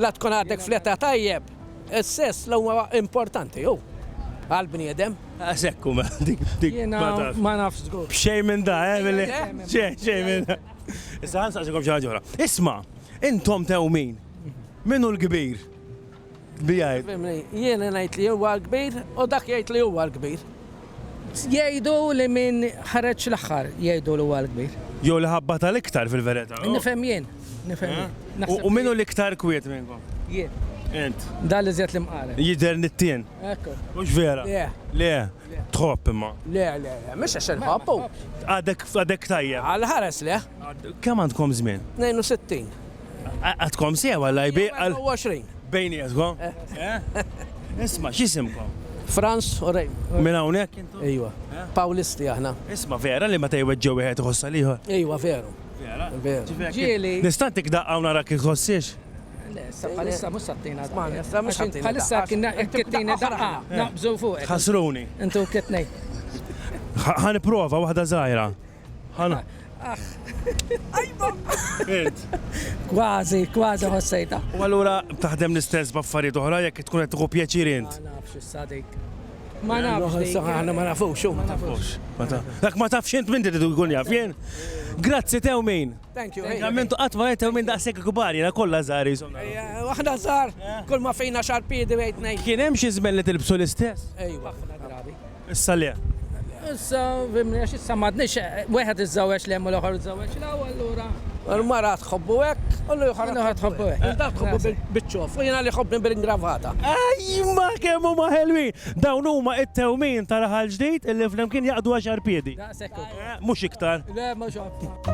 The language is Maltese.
La tkun għadek fl-età tajjeb, is-sess la huwa importanti hu għall-bniedem. Għax hekk hu mela dik dik ma tafx. Ma nafx żgur. B'xejn minn da, eh, billi. Xejn, xejn minn da. Issa ħa nsaqsikom xi ħaġa oħra. Isma', intom tewmin, min hu l-kbir? Bi jgħid. Jien ngħid li huwa l-kbir u dak jgħid li huwa l-kbir. Jgħidu li min ħareġ l-aħħar jgħidu li huwa l-kbir. Jew li ħabbatha l-iktar fil-verità. Nifhem jien, nifhem jien. Naħseb U min hu li- l-iktar kwiet minnkom? jien. Int. Dan li żjed l-imqaret. Jidher nittien. Ekku. Mhux vera? Le. Le. Tħobb imma. Le, le, le, mhux għax inħobbu. Għadek għadek tajjeb. Għal ħares le. Kemm għandkom żmien? 62. Għadkom sew għal lajbi għal. 20. Bejnietkom. Isma, x'isimkom? Franz u Rej. Minn hawnhekk intom? Ejwa. Pawlisti aħna. Isma vera li meta jweġġew wieħed iħossa liħor. Ejwa veru. Vera. Vera. Ġieli. Nista' tik daqqa u nara kif ħossiex? Bħalissa mhux sattina. Bħalissa kien kittini daqqa. Naqbżu fuq. Ħasruni. Intu kittnej. Ħan prova waħda żgħira. Ħana. Ajba! Int. Kważi, kważi ħossejta. U allura taħdem l-istess b'affarijiet oħra jekk tkun qed tieħu pjaċir int. Ma nafx issa dik. Ma nafx. Aħna ma nafux, ma nafux. Dak ma tafx int minn trid ikun jaf jien. Grazzi tew min. Thank you. Għamentu qatt ma tew min daqshekk kbar jiena kollha żgħar Waħda żgħar, kull ma fejna xarpiedi wejt ngħid. Kien hemm xi żmel li tilbsu l-istess? Ejwa, ħafna drabi. Issa le. Issa, fimni, għax issa m'għadniex wieħed iżżewweġ l-hemm u l-oħor iżżewweġ l-hawn, allura. Il-mara tħobbu hekk u l-ieħor. L-oħra tħobbu hekk. Inta tħobbu biċ-ċof u jiena li jħobbni bil-ingravata. Ajma kemm huma ħelwin! Dawn huma t-tewmin ta' raħal ġdid illi flimkien jaqdu għaxar piedi. Daqshekk hu. Mhux iktar. Le, mhux hekk.